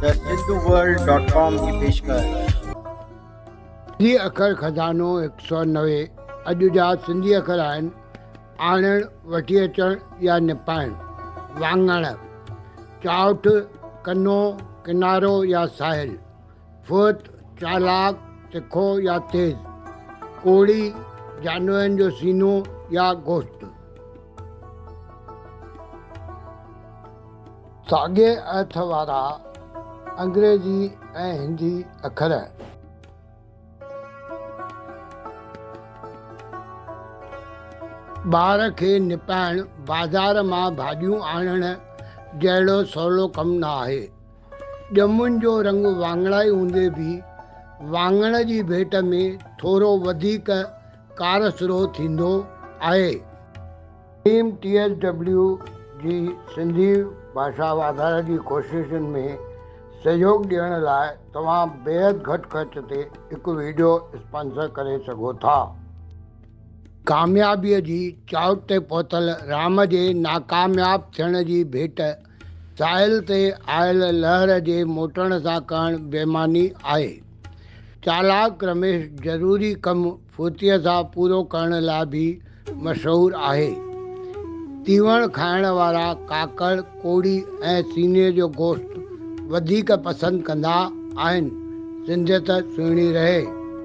ته Sindhu world dot com جي پيشڪش. سنڌي اکر خزانو هڪ سؤ نوي اڄ جا سنڌي اکر آهن، آڻڻ، وٺي اچڻ يا نپائڻ، واڱڻ، چاؤٺ، ڪنو، ڪنارو يا ساحل، فوت، چالاڪ، تکو يا تيز، ڪوڙي، جانورن جو سينو يا گوشت. ساڳئي ايٿ وارا انگريزي ۽ هندي اکر. ٻار کي نپائڻ بازار مان ڀاڄيون آڻڻ جهڙو سولو ڪم نه آهي. ڄمن جو رنگ واڱڻائي هوندي به واڱڻ جي ڀيٽ ۾ ٿورو وڌيڪ ڪارسرو ٿيندو آهي. ٽيم ٽي ايس ڊبليو جي سنڌي ڀاشا واڌاري جي ڪوششن ۾ سهيوڳ ڏيڻ لاء توهان بيحد گهٽ خرچ تي هڪ وڊيو اسپانسر ڪري سگهو ٿا. ڪاميابيء جي چاهت تي پهتل رام جي ناڪامياب ٿيڻ جي ڀيٽ ساحل تي آيل لهر جي موٽڻ سان ڪرڻ بيماني آهي. چالاڪ رميش ضروري ڪم فوتيء سان پورو ڪرڻ لاء به مشهور آهي. تيوڻ کائڻ وارا ڪاڪڙ، ڪوڙي ۽ سيني جو گوشت وڌيڪ پسند ڪندا آهن. سنڌيت سهڻي رهي.